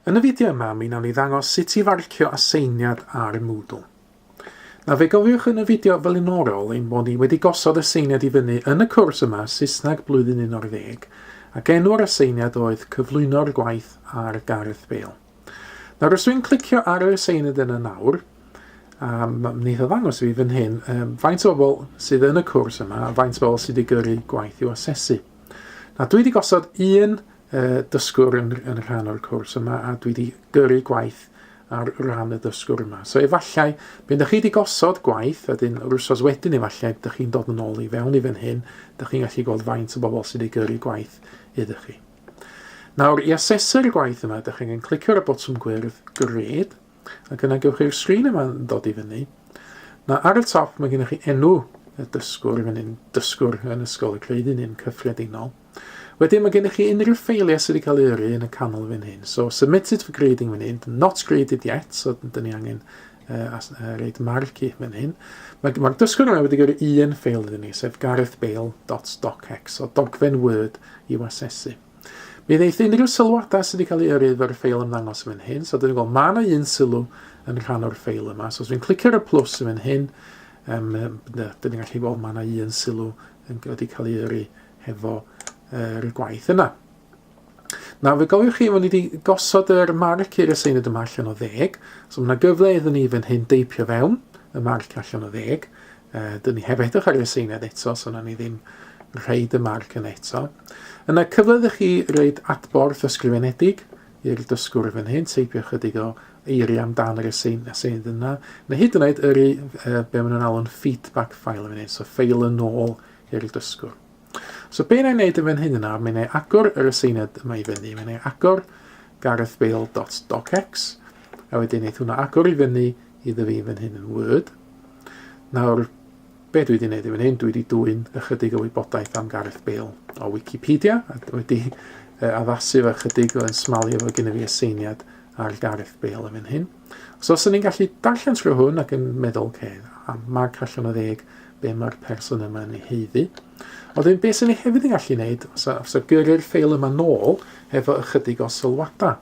Yn y fideo yma, mi nawn ni ddangos sut i farcio aseiniad ar y Moodle. Na fe gofiwch yn y fideo flaenorol ein bod ni wedi gosod aseiniad i fyny yn y cwrs yma Saesneg Blwyddyn 11 ac enw'r aseiniad oedd Cyflwyno'r Gwaith ar Gareth Bale. Nawr os dwi'n clicio ar yr aseiniad yna nawr, a mae'n neitha ddangos fi fan hyn, um, faint o bobl sydd yn y cwrs yma a faint o bobl sydd wedi gyrru gwaith i'w asesu. Na, dwi wedi gosod un yy dysgwr yn, yn rhan o'r cwrs yma a dwi wedi gyrru gwaith ar ran y dysgwr yma. So efallai, pan ydych chi wedi gosod gwaith, a dyn yr wrsos wedyn efallai, ydych chi'n dod yn ôl i fewn i fan hyn, ydych chi'n gallu gweld faint o bobl sydd wedi gyrru gwaith ydych chi. Nawr, i asesu'r gwaith yma, ydych chi'n clicio ar y botwm gwyrdd, gred, Ac yna gewch chi'r sgrin yma'n dod i fyny. Na, ar y top mae gennych chi enw y dysgwr yn un dysgwr yn Ysgol y Creu Dyn yn cyffredinol. Wedyn mae gennych chi unrhyw ffeiliau sydd wedi cael ei yrru yn y canol fan hyn. So submitted for grading fan hyn, not graded yet, so dyn ni angen uh, as, uh, reid marc i fan hyn. Mae'r ma dysgwr yma wedi gyrru un ffeil iddyn ni, sef garethbale.docx, so dogfen Word i'w asesu. Mi ddeith unrhyw sylwadau sydd wedi cael ei yrru efo'r ffeil ymddangos yn fan hyn. So dyn ni'n gweld mae yna un sylw yn rhan o'r ffeil yma. So os fi'n clicio ar y plus yn fan hyn, um, dyn ni'n gallu gweld mae yna un sylw yn wedi cael ei yrru hefo yr uh, gwaith yna. Na, fe gofiwch chi, mae ni wedi gosod yr marc i'r aseinyd yma allan o ddeg. So mae yna gyfle iddyn ni fan hyn deipio fewn y marc allan o ddeg. Uh, dyn ni heb edrych ar y seined eto, so na ni ddim rhaid y marc yn eto. Yna cyfle ydych chi reid adborth ysgrifenedig i'r dysgwr fan hyn, teipio chydig o eiri amdan yr asein, asein yna, neu hyd yn oed yr i, uh, be maen nhw'n alw'n feedback file yn hyn, so ffeil yn ôl i'r dysgwr. So be na'i wneud yn fan hyn yna, mae'n ei agor yr aseiniad yma i fyny, mae'n ei agor garethbale.docx, a wedyn eith hwnna agor i fyny i ddyfu fan hyn yn Word. Nawr, be dwi wedi gwneud i fan hyn, dwi wedi dwy'n ychydig o wybodaeth am Gareth Bale o Wikipedia, a dwi wedi uh, addasu fo ychydig o yn smalio fo gyda fi y seiniad ar Gareth Bale yn fan hyn. So os ni'n gallu darllen trwy hwn ac yn meddwl, oce, okay, marc allan o ddeg, be mae'r person yma yn ei heiddi. Ond wedyn, beth sy'n ei hefyd yn gallu gwneud, os, os o gyrru'r ffeil yma nôl, efo ychydig o sylwadau.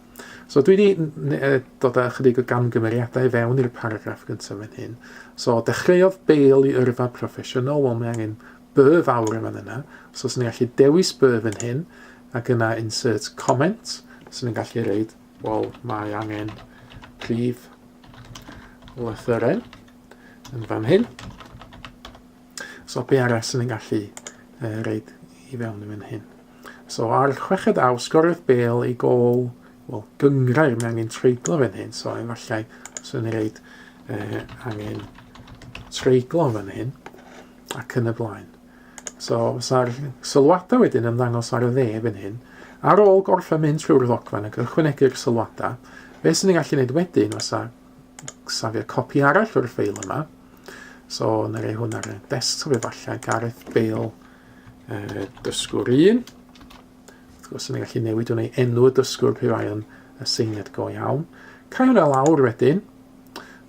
So dwi wedi dod â chydig o gamgymeriadau i fewn i'r paragraff gyntaf yn hyn. So dechreuodd Bale i yrfa proffesiynol, wel mae angen by fawr yn fan yna. So os ni'n gallu dewis by fan hyn, ac yna insert comment, so ni'n gallu reid, wel mae angen prif lythyren yn fan hyn. So be arall sy'n yn gallu uh, reid i fewn i fan hyn? So ar chweched aw, sgoriodd Bale ei gol, wel, gyngrair, mae angen treiglo fan hyn, so efallai sy'n reid uh, angen treiglo fan hyn ac yn y blaen. So, sa'r sylwadau wedyn yn ddangos ar y dde fan hyn. Ar ôl gorffen mynd trwy'r ddogfen ac ychwanegu'r sylwadau, beth sy'n ei gallu gwneud wedyn fysa safio copi arall o'r ffeil yma, So, na rei hwn ar y desktop efallai. Gareth Bale, uh, dysgwr un. Wrth gwrs, yn gallu newid hwn ei enw y dysgwr pe bai yn y seiniad go iawn. Cael hwnna lawr wedyn.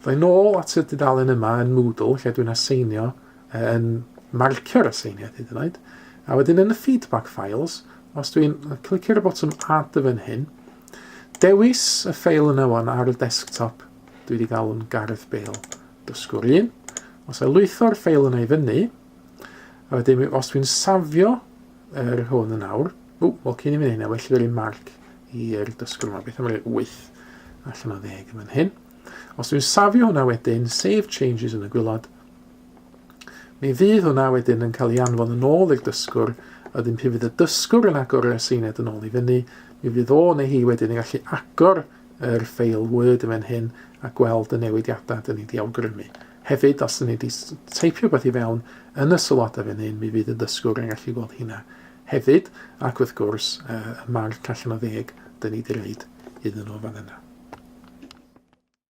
Ddau nôl at y dudalen yma yn Moodle, lle dwi'n aseinio, uh, yn marcio'r aseiniad hyd yn oed. A wedyn yn y feedback files, os dwi'n clicio'r botwm add y fan hyn, dewis y ffeil yna wan ar y desktop Dwi wedi galw'n Gareth Bale. Dysgwr 1. Os a lwytho'r ffeil yna i fyny, a wedyn os dwi'n safio yr er hwn yn awr, ww, wel cyn i fyny hynna, well i fi marc i'r dysgwr yma, beth am roi 8 allan o 10 yn fan hyn. Os dwi'n safio hwnna wedyn, save changes yn y gwylod, mi fydd hwnna wedyn yn cael ei anfon yn ôl i'r dysgwr, a wedyn pyn fydd y dysgwr yn agor y seined yn ôl i fyny, mi fydd o neu hi wedyn yn gallu agor yr ffeil Word yn fan hyn a gweld y newidiadau dyn ni di awgrymu. Hefyd, os dyn ni di teipio beth i fewn yn y sylwadau fan hyn, mi fydd y dysgwr yn gallu gweld hynna hefyd, ac wrth gwrs, y marc allan o ddeg dyn ni di reid iddyn nhw fan yna.